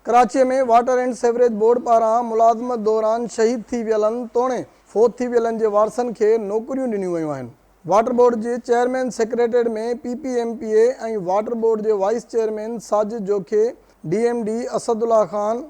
Karachi ۾ water and sewerage board پاران ملازمت دوران شهيد ٿي ويلن توڻي فوت ٿي ويلن جي وارثن کي نوڪريون ڏنيون ويون آهن. واٽر بورڊ جي chairman secretariat ۾ P P M P A ۽ water board جي vice chairman Sajid Jokhio, D M D Asadullah Khan,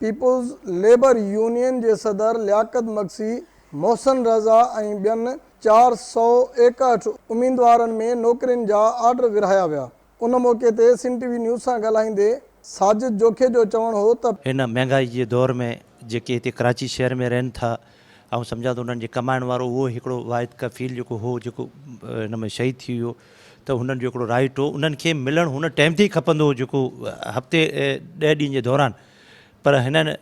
peoples labour union جي صدر لياقت مگسي، محسن رضا ۽ ٻين چار سؤ ايڪهٺ اميدوارن ۾ نوڪرين جا آرڊر ورهايا ويا. ان موقعي تي سنڌ ٽي وي نيوز سان ڳالهائيندي ساجد جوکي جو چوڻ هو ته. هن مهانگائي جي دور ۾ جيڪي هتي ڪراچي شهر ۾ رهن ٿا آئون سمجهان ٿو انهن جي ڪمائڻ وارو اهو ئي هڪڙو واحد ڪفيل جيڪو هو جيڪو هن ۾ شهيد ٿي ويو ته هنن جو هڪڙو رائٽ هو انهن کي ملڻ هن ٽائيم تي ئي کپندو هو جيڪو هفتي ڏهه ڏينهن جي دوران پر هنن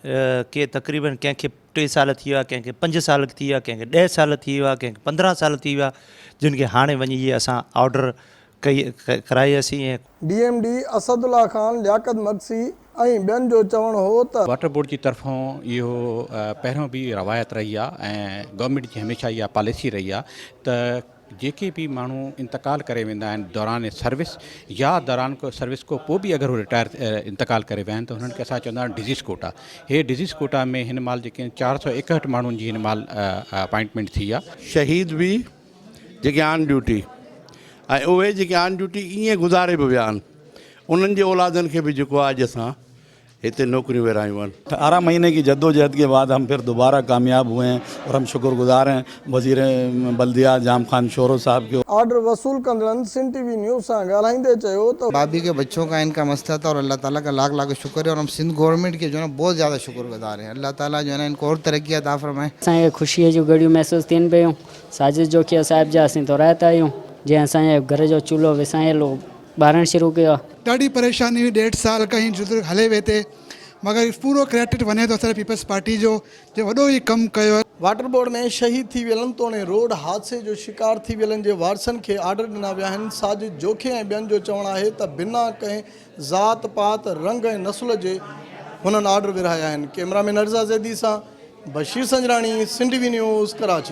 کي تقريبن ڪنهن کي ٽي سال ٿي ويا ڪنهن کي پنج سال ٿي ويا ڪنهن کي ڏهه سال ٿي ويا ڪنهن کي پندرهن سال ٿي ويا جن کي هاڻي وڃي اهي اسان آرڊر ڪرائي اسين ۽. D M D Asadullah Khan, Liaquat Magsi ۽ ٻين جو چوڻ هو ته. واٽر بورڊ جي طرفان اهو پهريون به روايت رهي آهي ۽ گورنمينٽ جي هميشه اها پاليسي رهي آهي ته جيڪي به ماڻهو انتقال ڪري ويندا آهن دوران سروس يا دوران سروس کان پوء به اگر هو رٽائر انتقال ڪري ويا آهن ته هنن کي اسان چوندا آهيون ڊزيز ڪوٽا هي ڊزيز ڪوٽا ۾ هن مهل جيڪي چار سؤ ايڪهٺ ماڻهن جي هن مهل اپائنٽمينٽ ٿي آهي. شهيد به جيڪي آن ڊيوٽي ۽ اهي جيڪي آن ڊيوٽي ائين گذاري به ويا آهن انهن جي اولادن کي به جيڪو آهي اڄ اسان هتي نوڪريون ورهايون آهن. ارڙهن مهيني ڪي جدوجهد ڪي بعد هم پھر دوباره ڪامياب هئي هين اور هم شڪر گذار هين وزير بلديات جام خان شورو صاحب ڪي. آرڊر وصول ڪندڙن سنڌ ٽي وي نيوز سان ڳالهائيندي چيو ته. بابي ڪي بچو ڪا ان ڪا مسئلا تھا اور الله تعالي ڪا لاک لاکو شڪر هي اور هم سنڌ گورنمينٽ ڪي جو هي نا بهت زياده شڪر گذار هين الله تعالي جو هي نا ان ڪو اور ترقيات عطا فرمائي. اسان کي خوشيء جون گهڙيون محسوس ٿين پيون. ساجد جوکيا صاحب جا اسين ٿورائتا آهيون جنهن اسان جي گهر جو چولهو وسايل هو ٻارڻ شروع ڪيو آهي. ڏاڍي پريشاني هئي ڏيڍ سال کان هي جدوجهد هلي وئي تي مگر پورو ڪريڊٽ وڃي ٿو اسان جي پيپلز پارٽي جو جنهن وڏو هي ڪم ڪيو. واٽر بورڊ ۾ شهيد ٿي ويلن توڻي روڊ حادثي جو شڪار ٿي ويلن جي وارثن کي آرڊر ڏنا ويا آهن ساجد جوکي ۽ ٻين جو چوڻ آهي ته بنا ڪنهن ذات پات رنگ ۽ نسل جي هنن آرڊر ورهايا آهن ڪئميرا مين عرضا زيدي سان Bashir Sanjrani Sindh T V news Karachi.